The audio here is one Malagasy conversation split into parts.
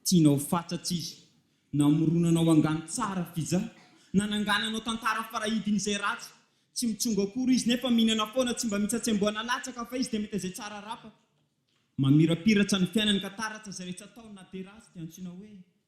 Tianao fatratra izy. Namoronanao angano tsara fija. Nanangananao tantara farahidin'izay ratsy. Tsy mitsongo akory izy nefa mihinana foana tsy mba mitsatsiamboana latsaka fa izy dia mety izay tsara arapaka. Mamirapiratra ny fiainany ka taratra izay rehetra ataony na dia ratsy dia antsoina hoe.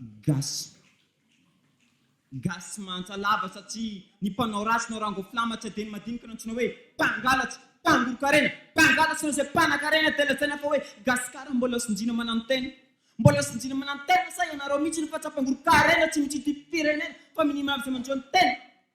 Gasy. Gasy mahantra lava satria ny mpanao ratsy na rango flama tsy adino madinika no antsoina hoe mpangalatsy, mpangoron-karena, mpangalatsy noho izay mpanakarena dia lazaina fa hoe Gasikara mbola sinjina mananotena. Mbola sinjina mananotena sa ianareo mihitsy no fahatsapangoron-karena tsy misy ity firenena fa minia mahavy izay manjo ny tena.